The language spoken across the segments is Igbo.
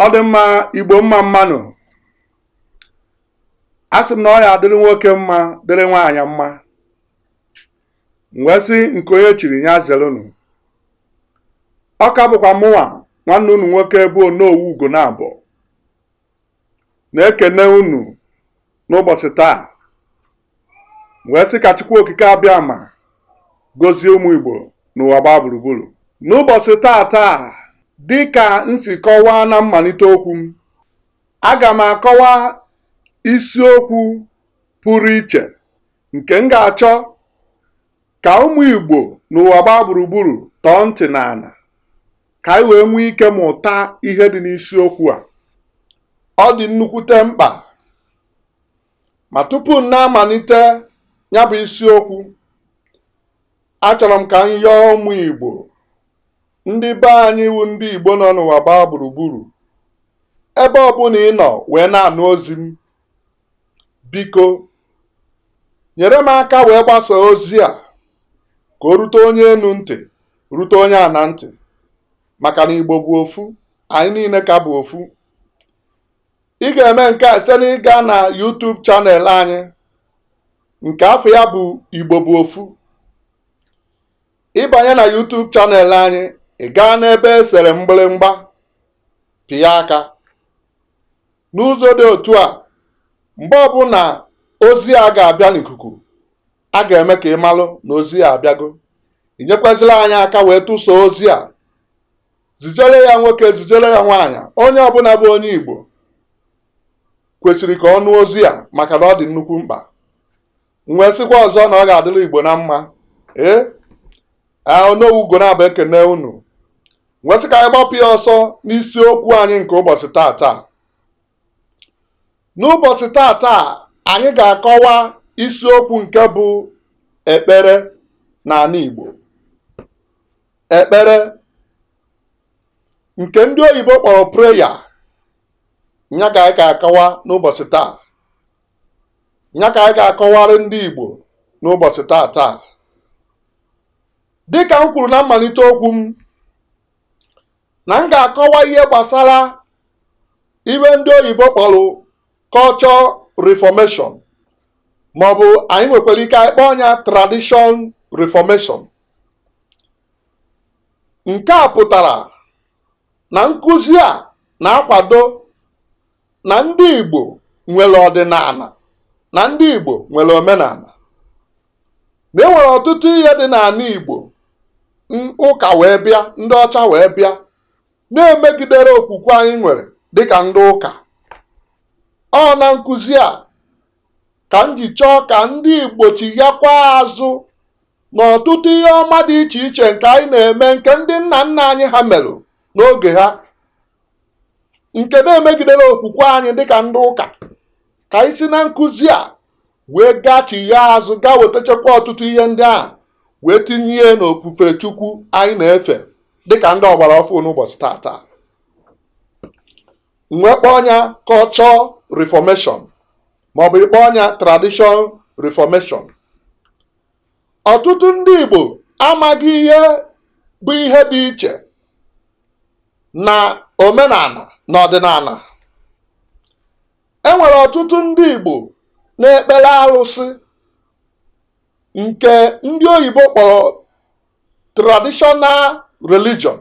ọ dị mma igbo mma mma nụ a sị m na ọ ya-adịrị nwoke mma dịrị nwaanyị mma m wee sị nke onye chiri nya zelụnụ ọ ka bụkwa mụnwa nwanne unu nwoke bụ onowu ugonabọ na-ekene unu n'ụbọchị taa wee sị ka Chukwu Okike Abịama gọzie ụmụ Igbo n'ụwa gbaa gburugburu n'ụbọchị taata dị ka m si kọwaa na mmalite okwu m aga m akọwa isiokwu pụrụ iche nke m ga-achọ ka ụmụ Igbo n'ụwa gbaa gburugburu tọọ ntị n'ana ka anyị wee nwee ike mụta ihe dị n'isiokwu a ọ dị nnukwute mkpa ma tupu m na-amalite ya bụ isiokwu achọrọ m ka m yọọ ụmụ Igbo ndị be anyị wu ndị Igbo nọ n'ụwa gbaa gburugburu ebe ọbụla ị nọ wee na-anụ ozi m biko nyere m aka wee gbasaa ozi a ka o rute onye enu ntị rute onye ana ntị maka na igbo bụ ofu anyị niile ka bụ ofu ị ga-eme nke a site n'ịga na YouTube channel anyị nke afa ya bụ igbo bụ ofu ị banye na YouTube channel anyị ị gaa n'ebe e sere mgbịrịmgba pịa aka N'ụzọ dị otu a, mgbe ọbụla ozi a ga-abịa n'ikuku, a ga-eme ka ị malụ na ozi a abịago. I nyekwazịla anyị aka wee tụsaa ozi a. Zijere ya nwoke, zijere ya nwaanyị. Onye ọbụla bụ onye Igbo kwesịrị ka ọ nụ ozi a maka na ọ dị nnukwu mkpa. m wee sịkwa ọzọ na ọ ga-adịrị igbo na mma ee onowu ugonabọ ekene unu wee sị ka anyị gbapụ ya ọsọ n'isiokwu anyị nke ụbọchị taata n'ụbọchị taata anyị ga-akọwa isiokwu nke bụ ekpere n'ana igbo ekpere nke ndị oyibo kpọrọ prayer nya ka anyị ga-akọwa n'ụbọchị taa nya ka anyị ga-akọwara ndị Igbo n'ụbọchị taata dịka m kwuru na mmalite okwu m na m ga-akọwa ihe gbasara ihe ndị oyibo kpọrọ culture reformation maọbụ anyị nwekwara ike anyị kpọọ nya tradition reformation nke a pụtara na nkụzi a na-akwado na ndị Igbo nwere ọdịnala na ndị Igbo nwere omenala na e nwere ọtụtụ ihe dị n'ala Igbo ụka wee bịa ndị ọcha wee bịa na-emegiderọ okwukwe anyị nwere dịka ndị ụka ọ na nkụzi a ka m ji chọọ ka ndị Igbo chighakwa azụ n'ọtụtụ ihe ọma dị iche iche nke anyị na-eme nke ndị nna nna anyị ha merụ n'oge ha nke na-emegiderọ okwukwe anyị dịka ndị ụka ka anyị si na nkụzi a wee gachigha azụ gaa wetachakwa ọtụtụ ihe ndị ahụ wee tinye n'ofufe chukwu anyị na-efe dịka ndị ọgbara ọfụụ n'ụbọchị taata nwee ike kpọọ nya culture reformation maọbụ ị kpọọ nya tradition reformation ọtụtụ ndị Igbo amaghị ihe bụ ihe dị iche na omenala na ọdịnala e nwere ọtụtụ ndị Igbo na-ekpere arụsị nke ndị oyibo kpọrọ traditional religion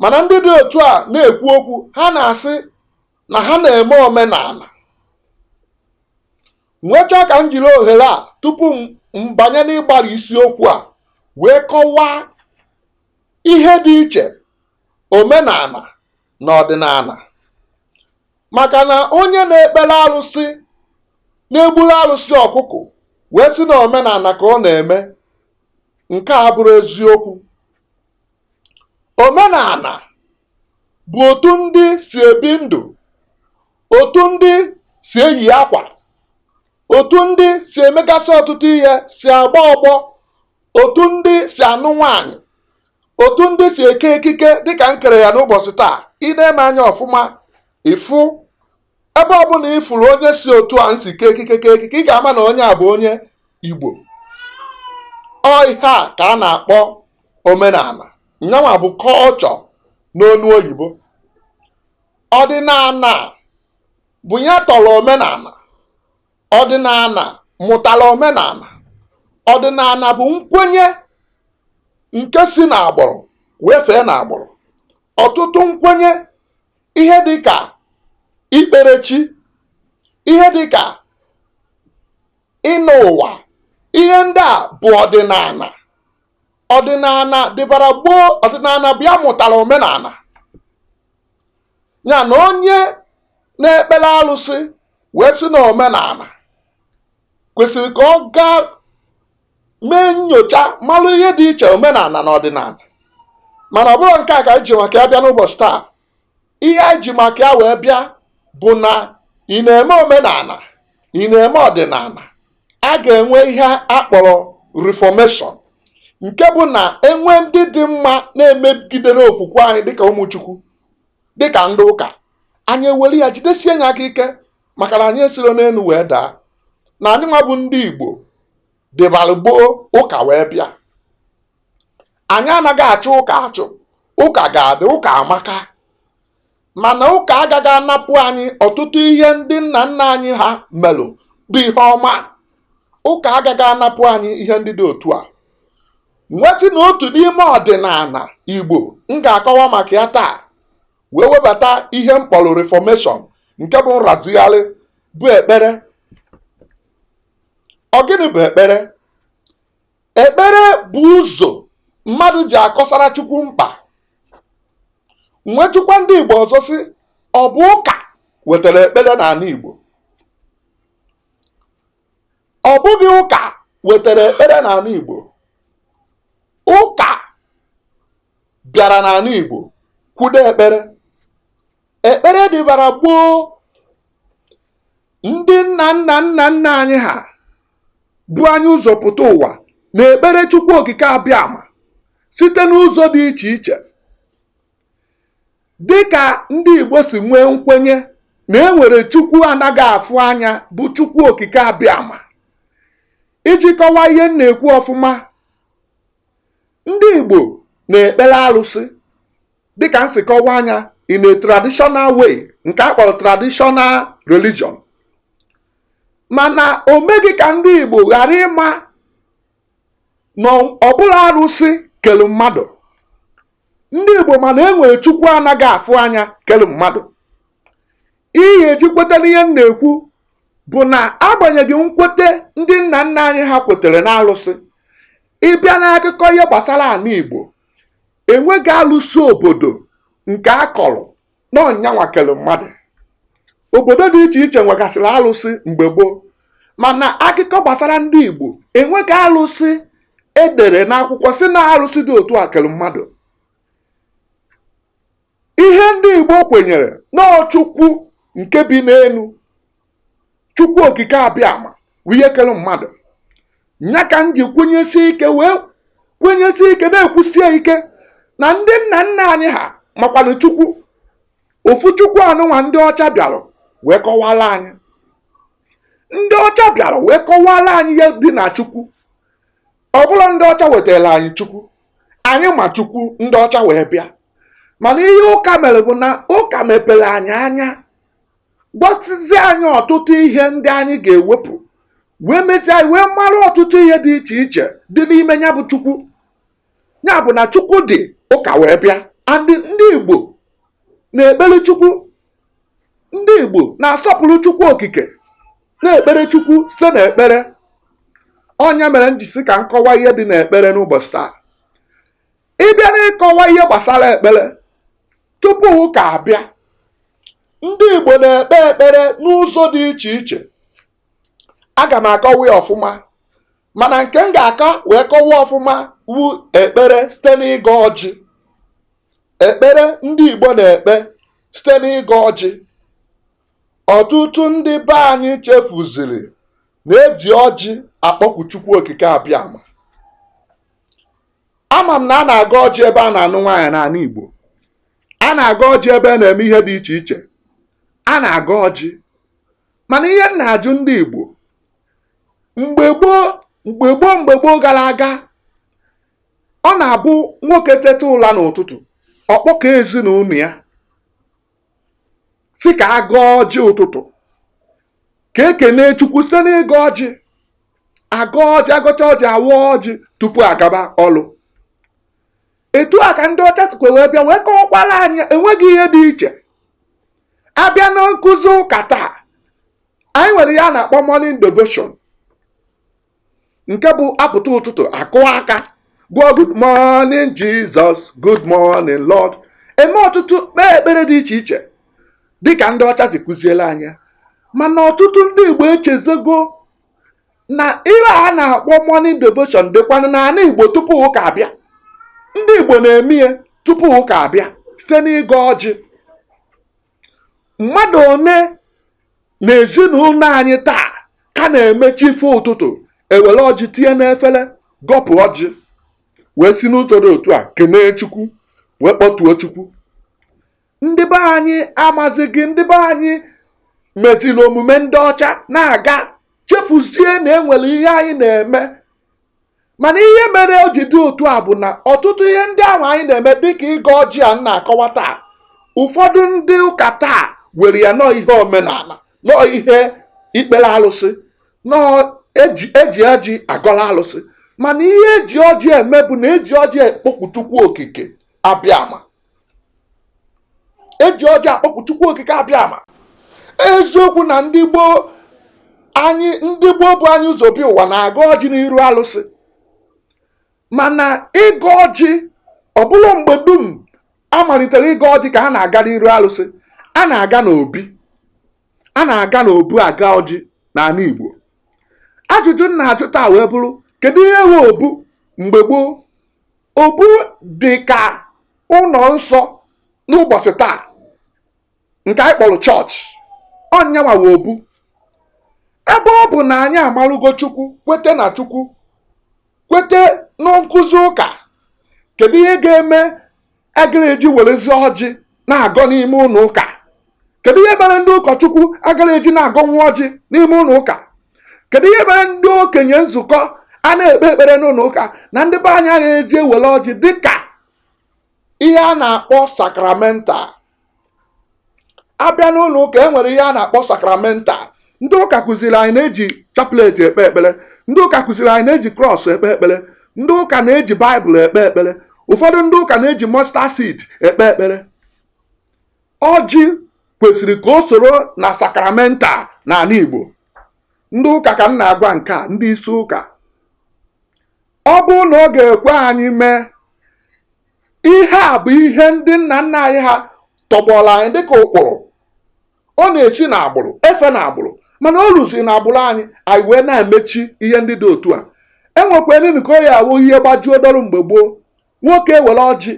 mana ndị dị otu a na-ekwu okwu ha na-asị na ha na-eme omenala m wee chọọ ka m jiri ohere a tupu m banye n'ịgbara isiokwu a wee kọwaa ihe dị iche omenala na ọdịnala maka na onye na-ekpere arụsị na-egburu arụsị ọkụkụ wee sị na omenala ka ọ na-eme nke a abụrọ eziokwu omenala bụ otu ndị si ebi ndụ otu ndị si eyi akwa otu ndị si emegasị ọtụtụ ihe si agba ọgbọ otu ndị si anụ nwaanyị otu ndị si eke ekike dịka m kere ya n'ụbọchị taa ị nee m anya ọfụma ị fụ ebe ọbụla ị fụrụ onye si otu a m si kee ekike kee ekike ị ga-ama na onye a bụ onye Igbo ọ ihe a ka a na-akpọ omenala nyanwa bụ culture n'onu oyibo ọdịnala bụ ya tọrọ omenala ọdịnala mụtara omenala ọdịnala bụ nkwenye nke si n'agbụrụ wee fee n'agbụrụ ọtụtụ nkwenye ihe dị ka ikpere chi ihe dị ka ịnọ ụwa ihe ndị a bụ ọdịnala ọdịnala dịbara gboo ọdịnala bụ ya mụtara omenala ya na onye na-ekpere alụsị wee sị na omenala kwesịrị ka ọ gaa mee nyocha malụ ihe dị iche omenala na ọdịnala mana ọ bụrọ nke a ka anyị ji maka ya bịa n'ụbọchị taa ihe anyị ji maka ya wee bịa bụ na ị na-eme omenala ị na-eme ọdịnala a ga-enwe ihe a kpọrọ reformation nke bụ na enwe ndị dị mma na-emegidero okwukwe anyị dịka ụmụ chukwu dịka ndị ụka anyị ewere ya jidesie nya aka ike maka na anyị esiro n'elu wee daa na anyị nwa bụ ndị igbo dịbara gboo ụka wee bịa anyị anaghị achụ ụka achụ ụka ga-adị ụka amaka mana ụka agaghị anapụ anyị ọtụtụ ihe ndị nna nna anyị ha melụ bụ ihe ọma ụka agaghị anapụ anyị ihe ndị dị otu a m wee sị na otu n'ime ọdịnala igbo m ga-akọwa maka ya taa wee webata ihe m kpọrọ reformation nke bụ nrazigharị bụ ekpere ọ gịnị bụ ekpere ekpere bụ ụzọ mmadụ ji akọsara chukwu mkpa m wee jụkwa ndị igbo ọzọ sị ọ bụ ụka wetara ekpere n'ala igbo ọ bụghị ụka wetara ekpere n'ala igbo ụka bịara n'ala igbo kwudo ekpere ekpere dịbara gboo ndị nna nna nna nna anyị ha bu anyị ụzọ pụta ụwa na-ekpere Chukwu Okike abịama site n'ụzọ dị iche iche dị ka ndị Igbo si nwee nkwenye na e nwere Chukwu anaghị afụ anya bụ Chukwu Okike abịama iji kọwaa ihe m na-ekwu ọfụma ndị Igbo na-ekpere alụsị dịka m si kọwaa nya in a traditional way nke a kpọrọ traditional religion mana o meghị ka ndị Igbo ghara ịma na ọ bụrọ arụsị kelu mmadụ ndị Igbo ma na e nwere Chukwu anaghị afụ anya kelu mmadụ ihe e ji kweta n'ihe m na-ekwu bụ na agbanyeghị nkwete ndị nna nna anyị ha kwetere n'alụsị ị bịa n'akụkọ ihe gbasara ala Igbo enweghị alụsị obodo nke a kọrọ na ọ nyanwa kelu mmadụ obodo dị iche iche nwegasịrị alụsị mgbe gboo mana akụkọ gbasara ndị Igbo enweghị alụsị e dere n'akwụkwọ sị na alụsị dị otu a kelu mmadụ ihe ndị Igbo kwenyere na ọ chukwu nke bi n'elu chukwu okike abịama bụ ihe kere mmadụ nya ka m ji kwenyesi ike wee kwenyesi ike na-ekwusie ike na ndị nna nna anyị ha makwanụ chukwu ofu chukwu anụnwa ndị ọcha bịara wee kọwara anyị ndị ọcha bịara wee kọwara anyị ihe dị na chukwu ọ bụrọ ndị ọcha wetara anyị chukwu anyị ma chukwu ndị ọcha wee bịa mana ihe ụka mere bụ na ụka mepere anyị anya gwasịzi anyị ọtụtụ ihe ndị anyị ga-ewepụ wee mezie anyị wee mara ọtụtụ ihe dị iche iche dị n'ime ya bụ chukwu ya bụ na chukwu dị ụka wee bịa andị ndị igbo na-ekpere chukwu ndị Igbo na-asọpụrụ Chukwu Okike na-ekpere Chukwu site n'ekpere ọ nya mere m ji sị ka m kọwa ihe dị n'ekpere n'ụbọchị taa ị bịa n'ịkọwa ihe gbasara ekpere tupu ụka abịa ndị Igbo na-ekpe ekpere n'ụzọ dị iche iche aga m akọwa ya ọfụma mana nke m ga-aka wee kọwa ọfụma wu ekpere site n'ịgọ ọjị ekpere ndị Igbo na-ekpe site n'ịgọ ọjị ọtụtụ ndị be anyị chefuziri na eji ọjị akpọku Chukwu Okike Abịama ama m na a na-agọ ọjị ebe a na-anụ nwaanyị n'ala Igbo a na-agọ ọjị ebe a na-eme ihe dị iche iche a na-agọ ọjị mana ihe m na-ajụ ndị Igbo mgbe gboo mgbe gboo mgbe gboo gara aga ọ na-abụ nwoke teta ụla n'ụtụtụ ọ kpọkọọ ezinụlọ ya sị ka a gọọ ọjị ụtụtụ ka ekene chukwu site n'ịgọ ọjị agọ ọjị agọcha ọjị awa ọjị tupu agaba ọlụ etu a ka ndị ọcha sikwa wee bịa wee kọwakwara anyị enweghị ihe dị iche abịa na nkụzi ụka taa anyị nwere ihe a na-akpọ morning devotion nke bụ apụta ụtụtụ akụ aka gụọ good morning Jesus good morning Lord eme ọtụtụ kpee ekpere dị iche iche dịka ndị ọcha si kụziele anyị mana ọtụtụ ndị Igbo echezọgo na ihe a na-akpọ morning devotion dịkwanụ n'ala Igbo tupu ụka abịa ndị Igbo na-eme ya tupu ụka abịa site n'ịgọ ọjị mmadụ one na ezinụlọ anyị taa ka na-eme chi foo ụtụtụ ewere ọjị tinye n'efere gọpụ ọjị wee si n'ụzọ dị otu a kenee chukwu wee kpọkuo chukwu ndị be anyị amazighị ndị be anyị meziri omume ndị ọcha na-aga chefuzie na enwere ihe anyị na-eme mana ihe mere o ji dị otu a bụ na ọtụtụ ihe ndị ahụ anyị na-eme dịka ịgọ ọjị a na-akọwa taa ụfọdụ ndị ụka taa were ya na ọ ihe omenala na ọ ihe ikpere alụsị na ọ eji eji ọjị agọla alụsị mana ihe eji ọjị eme bụ na eji ọjị akpọku Chukwu okike abịama eji ọjị akpọku chukwu okike abịama eziokwu na ndị gboo anyị ndị gboo bu anyị ụzọ bịa ụwa na-agọ ọjị n'iru alụsị mana ịgọ ọjị ọ bụrọ mgbe dum a malitere ịgọ ọjị ka ha na-aga n'iru alụsị a na-aga n'obi a na-aga n'obu agọ ọjị n'ala Igbo ajụjụ m na-ajụ taa wee bụrụ kedu ihe wụ obu mgbe gboo Obu dị ka ụlọ nsọ n'ụbọchị taa nke anyị kpọrọ chọọchị ọ nyanwa wụ obu ebe ọ bụ na anyị amarụgo chukwu kwete na chukwu kwete na nkụzi ụka kedu ihe ga-eme agara eji werezi ọjị na-agọ n'ime ụlọ ụka kedu ihe mere ndị ụkọchukwu agara eji na-agọ nwa ọjị n'ime ụlọ ụka kedu ihe mere ndị okenye nzukọ a na-ekpe ekpere n'ụlọ ụka na ndị be anyị agha eji ewere ọjị dịka ihe a na-akpọ sakramental a bịa n'ụlọ ụka e nwere ihe a na-akpọ sakramental ndị ụka kụziri anyị na-eji chaplet ekpe ekpere ndị ụka kụziri anyị na-eji krọs ekpe ekpere ndị ụka na-eji baịbụl ekpe ekpere ụfọdụ ndị ụka na-eji mustard seed ekpe ekpere ọjị kwesịrị ka o soro na sakramental n'ala Igbo ndị ụka ka m na-agwa nke a ndị isi ụka ọ bụrụ na ọ ga-ekwe anyị mee ihe a bụ ihe ndị nna nna anyị ha tọgbọrọ anyị dịka ụkpụrụ ọ na-esi n'agbụrụ efe n'agbụrụ mana o ruzi n'agbụrụ anyị anyị wee na-emechi ihe ndị dị otu a e nwekwanụ nke ọ ya-awụ ihe gbajuo dọrụ mgbe gboo nwoke ewere ọjị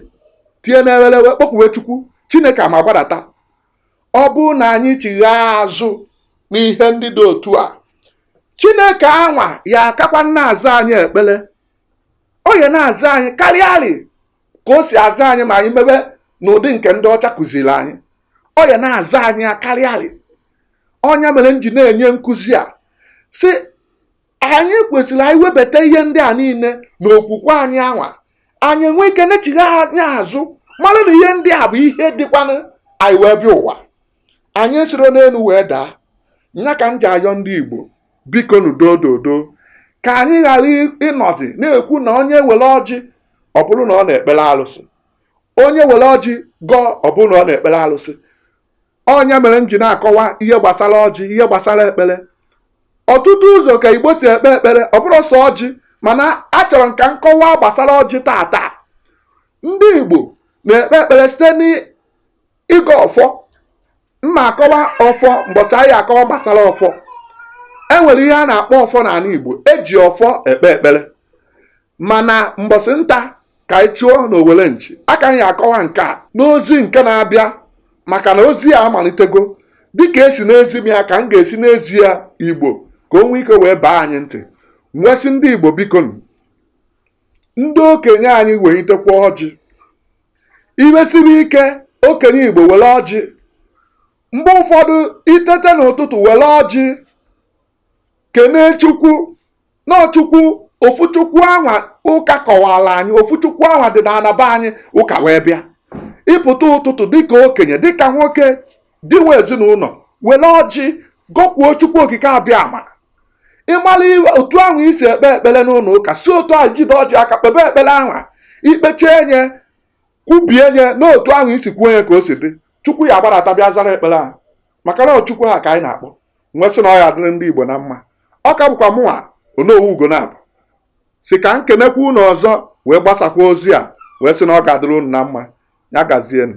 tie n'ewere wee kpọkuwe chukwu chineke ama gbadata ọ bụrụ na anyị chighaa azụ n'ihe ndị dị otu a chineke anwa ya-akakwa na-aza anyị ekpere ọ ya na-aza anyị karịarị ka o si aza anyị ma anyị mebe n'ụdị nke ndị ọcha kụziri anyị ọ ya na-aza anyị karịarị ọ nya mere m ji na-enye nkụzi a sị anyị kwesịrị anyị webata ihe ndị a niile n'okwukwe anyị anwa anyị enwe ike na-echigha anya azụ mara na ihe ndị a bụ ihe dịkwanụ anyị wee bịa ụwa anyị esirọ n'elu wee daa nya ka m ji ayọ ndị Igbo bikonụ dododo ka anyị ghara ịnọzi na-ekwu na onye were ọjị ọ bụrụ na ọ na-ekpere alụsị onye were ọjị gọọ ọ bụrụ na ọ na-ekpere alụsị ọ nya mere m ji na-akọwa ihe gbasara ọjị ihe gbasara ekpere ọtụtụ ụzọ ka igbo si ekpe ekpere ọ bụrọ sọ ọjị mana achọrọ m ka m kọwaa gbasara ọjị taata ndị igbo na-ekpe ekpere site ịgọ ọfọ m ma-akọwa ọfọ mbọsị anyị akọwa gbasara ọfọ e nwere ihe a na-akpọ ọfọ n'ala Igbo e ji ọfọ ekpe ekpere mana mbọsị nta ka anyị chụọ na owere nchi aka m ya-akọwa nke a n'ozi nke na-abịa maka na ozi a amalitego dịka e si na-ezi m ya ka m ga-esi na-ezi ya Igbo ka o nwee ike wee baa anyị ntị m wee sị ndị Igbo biko ndị okenye anyị welitekwa ọjị i kwesịrị dịka okenye igbo were ọjị mgbe ụfọdụ i tete n'ụtụtụ were ọjị kenee chukwu na ọ chukwu ofu chukwu anwa ụka kọwara anyị ofu chukwu anwa dị n'ala be anyị ụka wee bịa ị pụta ụtụtụ dịka okenye dịka nwoke di nwe ezinụlọ were ọjị gọkuo chukwu okike abịama ị mara ihe otu ahụ i si ekpe ekpere n'ụlọ ụka si otu ahụ jide ọjị aka kpebe ekpere ahụ i kpechaa nye kwubie nye na otu ahụ i si kwuo nye ka o si dị chukwu ya agbarata bịa zara ekpere ahụ maka na chukwu ahụ ka anyị na-akpọ m wee sị na ọ ya-adịrị ndị igbo na mma ọ ka bụkwa mụnwa onowu ugonabọ sị ka m kenekwa unu ọzọ wee gbasakwa ozi a wee sị na ọ ga-adịrị unu na mma ya gazienụ